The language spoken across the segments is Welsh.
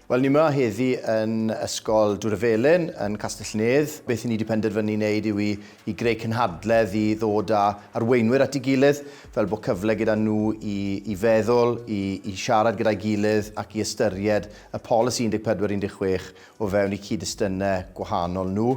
Wel, ni yma heddi yn Ysgol Dŵr y Felin yn Castell-nedd. Beth i ni wedi penderfynu wneud yw i, i greu cynhadledd i ddod â arweinwyr at ei gilydd, fel bod cyfle gyda nhw i, i feddwl, i, i siarad gyda'i gilydd ac i ystyried y polisi 1416 o fewn eu cyd-destunau gwahanol nhw.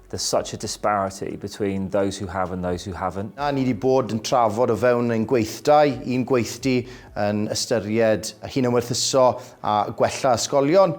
There's such a disparity between those who have and those who haven't. A ni wedi bod yn trafod o fewn ein gweithdai, un gweithdy yn ystyried hunanwerthuso a gwella ysgolion,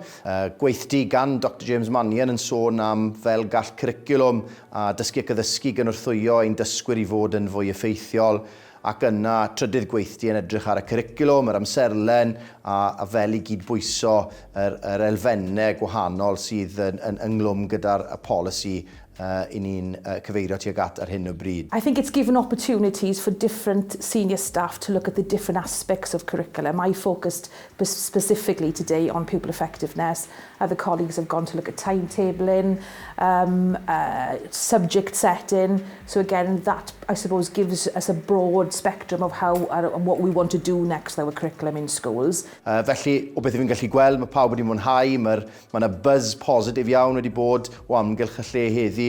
gweithdy gan Doctor James Mannion yn sôn am fel gall cwricwlwm a dysgu ac addysgu gynorthwyo ein dysgwyr i fod yn fwy effeithiol, Ac yna, trydydd gweithdy yn edrych ar y cwricwlwm, yr amserlen, a a fel i gyd-bwyso yr yr elfenne gwahanol sydd yn yn ynglwm gyda'r y polisi yy 'yn ni'n yy cyfeirio tuag at ar hyn o bryd. I think it's given opportunities for different senior staff to look at the different aspects of curriculum. I focused but specifically today on pupil effectiveness, other colleagues have gone to look at timetabling, um, uh, subject setting. So again, that I suppose gives us a broad spectrum of how uh, and what we want to do next with our curriculum in schools. Uh, felly, o beth fi'n gallu gweld, mae pawb wedi mwynhau, mae yna buzz positif iawn wedi bod o amgylch y lle heddi.